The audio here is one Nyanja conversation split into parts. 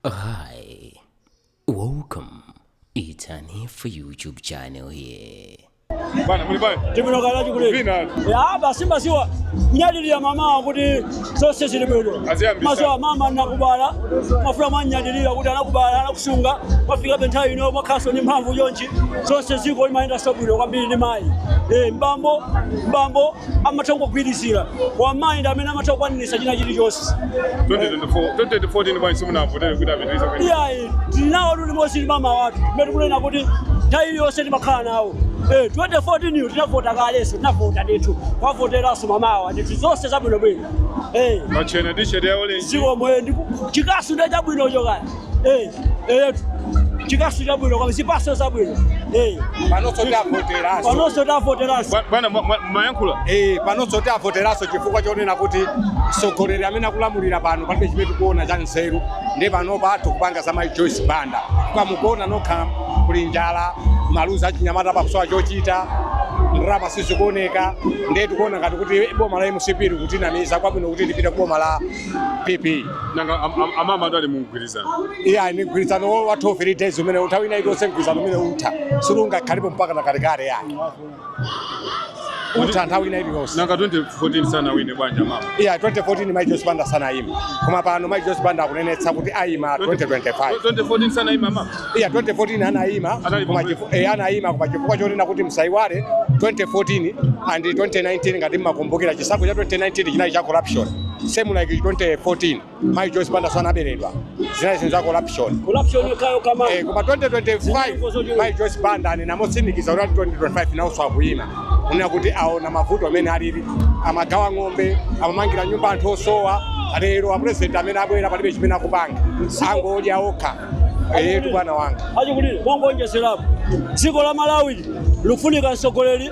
Hi, welcome. It's an for YouTube channel here. Bana, muli bana. Tibino kala chukuli. Vina. Ya basi masiwa. Nyadili ya mama kuti sose zili bwino. Aziyambisa. Masiwa mama nakubala. Mafula manyadili ya kuti anakubala anakusunga. Mafika bentayi no makaso ni mphamvu yonchi. Sose ziko imaenda sobwino kwambiri ni mai. Eh mbambo mbambo amatha kungogwirizira kwa mayi ndi amene amatha kukwaniritsa china chilichonse 2024 2014 bwanji simunavotere kuti apitirize kuyi- iyayi tili nawo luli mosi ndi mama wathu mmene tikunena kuti nthawi iliyonse timakhala nawo Eh, 2014 yo tinavota kaleso tinavota ndithu tiwavoteranso mamawa ndithu zonse zabwinobwino Eh, machena t-shirt ya orange zikomo eh, ndiku- chikasu nde chabwinocho kani Eh, eyetu chikasu chabwino koma zipatso zabwino Eh, panonso tavoteraso panonso tiwavoteranso Bwa- bwana mwa- mwa- mwayankhula Eh, panonso tiwavoteraso chifukwa chonena kuti mtsogoleri amene akulamulira pano palibe chimene tikuona cha nzeru ndi panopa anthu kupanga za mai joyce banda koma mukuona nokha kuli njala maluzi achinyamata pakusowa chochita ndalama sizikuoneka ndiye tikuona ngati kuti boma la mcp likutinamiza kwabwino kuti tipite ku boma la PP nanga am- am- amama ndo ali mu mgwirizano iye ali ni mgwirizano wo- wa 12 days umene nthawi ina iliyonse mgwirizano umene utha siungakhalepo mpaka na kalekale yayi utha nthawi ina iliyonse nanga 2014 sana wine bwanji mama iya 2014 mai joyce banda sanayima koma pano mai joyce banda akunenetsa kuti ayima 2025 2014 sanaime mama iya 2014 anayima Anali koma Congress. chifu- eh, anayima koma chifukwa chonena kuti msayiwale 2014 and 2019 ngati mmakumbukira chisankho cha 2019 chinali cha corruption same like 2014 mayi joyce banda nso anaberedwa zinali zinthu za corruption corruption yake kama Eh, koma 2025 mayi joyce banda anena motsimikiza kuti 2025 nawonso akuyima kunena kuti aona mavuto amene alili amagawa ng'ombe amamangira nyumba anthu osowa lero apurezidenti amene abwera palibe chimene akupanga angodya okha Eyetu bwana wanga. Achikulire mongoonjezerapo. Dziko la Malawi likufunika mtsogoleri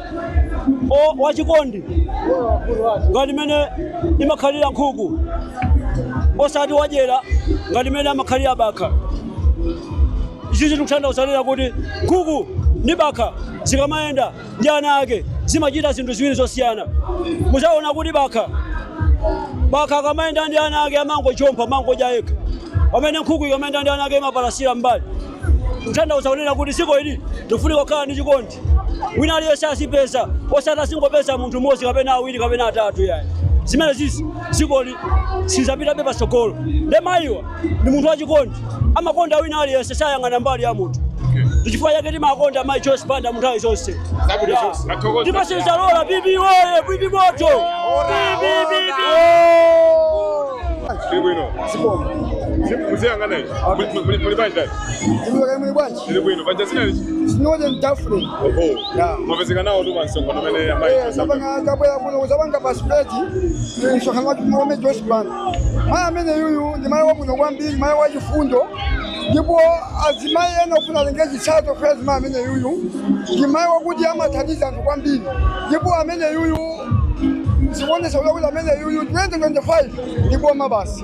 o- wachikondi ngati mene imakhalira nkhuku osati wadyera ngati mene amakhalira bakha. Izizi tikutanthauzira kuti nkhuku ndi bakha zikamayenda ndi ana ake zimachita zinthu ziwiri zosiyana muzaona kuti bakha bakha akamayenda ndi ana ake amangochompa amangodya yekha pamene nkhuku ikamayenda ndi ana ake imapalasira mbali kutanthauza kunena kuti dziko ili likufunika kukhala ndi chikondi wina aliyense azipeza osati azingopeza munthu mmodzi kapena awiri kapena atatu yayi zimene zizi dzikoli silizapitabe patsogolo nde mayiwa ndi munthu wachikondi amakonda wina aliyense sayang'ana mbali ya munthu ndichifukwa chake timakonda mayi Joyce Banda mu nthawi zonse Zabwino zonse. Athokoza. ndipo sizalola PP woye PP moto Ndi bwino. Zabwino. Muziyang'ana ichi. Muli- muli- Muli banja. Muli banja. Zili bwino. Paja dzina ndani. Sinoje ndafre. Oho. Ya. Mwapezeka nawo tu pamsonkhano umene amayi. Eh, sapanga kabwera kuno kuzapanga based msonkhano wa amayi Joyce Banda. Mayi amene yuyu ndi mayi wabwino kwambiri, mayi wachifundo ndipo azimayi ena afuna atenge chitsanzo kwa azimayi amene yuyu ndi mayi wakuti amathandiza anthu kwambiri ndipo amene yuyu zikuonesa kuti amene yuyu 2025 ndi m'boma basi.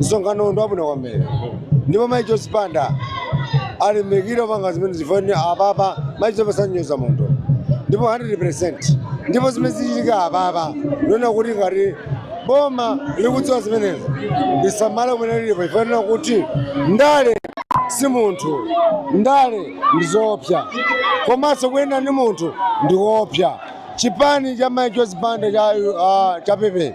msonkhano ndi wabwino kwambiri ndipo mai joyce banda alimbikire kupanga zimene zikuoneka apapa mai joyce sanyoza munthu ndipo 100 ndipo zimene zichitika apapa ndikuona kuti ngati boma likudziwa zimenezo lisamale kumene lilipo chifukwa kuti ndale si munthu ndale ndi zoopsa komanso kuyenda ndi munthu ndi kuopsa chipani cha mai joyce banda cha, uh, cha PP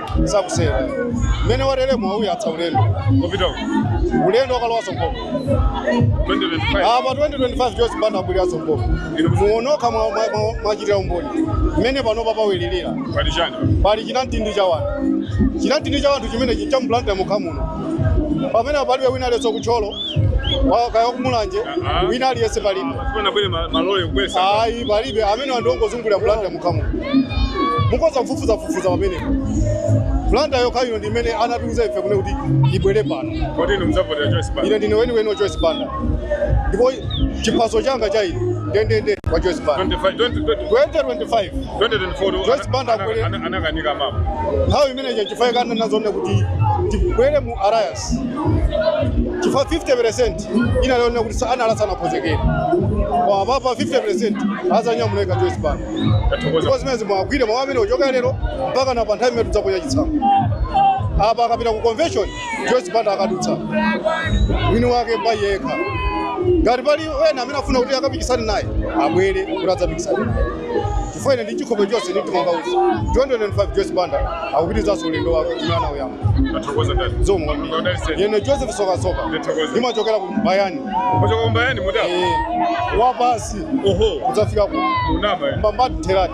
sakuchedwa mmene wateremo auyatsa ulendo kupita uko ulendo wokalowaso m'boma 2025 apa 2025 Joyce Banda abweraso m'boma mwaona nokha mwa- mwa- mwa- mwachitira umboni mmene panopa pawilirira pali chani pali chinamtindi cha wanthu chinamtindi cha wanthu chimene cha mu Blantyre mokha muno pamene palibe wina aliyense ku Thyolo kaya ku Mulanje wina aliyense palibe ayi palibe amenewa ndi ongozungulira Blantyre yokha muno mukhoza kufufuza fufuza pamene Blantyre yokhayo ndi imene anatiuza ife kunena kuti ibwere pano. Kodi inu mzavotera Joyce Banda? Ine ndine weni weni Joyce Banda. Ndipo chipaso changa cha ine ndendende kwa Joyce Banda. 25 2025. 2024 Joyce Banda ana- akwere. ana- anakanika mama nthawi imeneyo chifukwa inkanenazo kuti tibwere mu alliance chifukwa 50 percent inali yoona kuti sa- ana anali asanakonzekere koma apapa 50 percent azanyamula yekha Joyce Banda yathokoza ndipo zimenezi mugwire mawu amene kuchoka lero mpaka na pa nthawi imene tidzaponya chitsanzo apa akapita ku convention joyce banda akadutsa mwini wake pa yekha ngati pali ena amene afuna kuti akapikisane naye abwere kuti adzapikisane naye chifukwa ine ndi chikhope chonse ndi mtima wanga kuti 2025 joyce banda akupitizanso ulendo wake umene anauyamba Akuthokoza ndani? zikomo kwambiri Ndodali sedi. ine joseph sokasoka Ndithokoza. ndimachokera ku mbayani Kuchoka kumbayani mudza. Eh, wapasi Oho. kudzafika ku Chilobwe. mbambadi theradi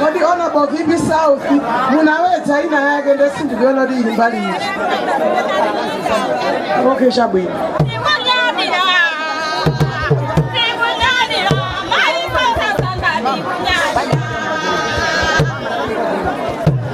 kodi honorable vp south munauza ina yake nde sindikuona kuti ili mbali ichi okay chabwino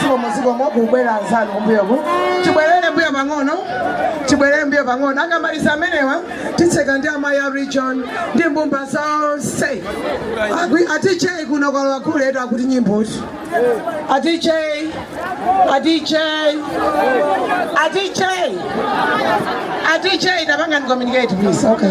zikomo zikomo kubwera anzanu kumbuyoku tibwerere mbuyo pang'ono tibwerere mbuyo pang'ono akamaliza amenewa titseka ndi amayi a region ndi mbumba zonse Agwi- ati chei kuno kwa akuluakulu athu akuti nyimbo iti ati chei ati chei ati chei ati chei tapangani communicate please okay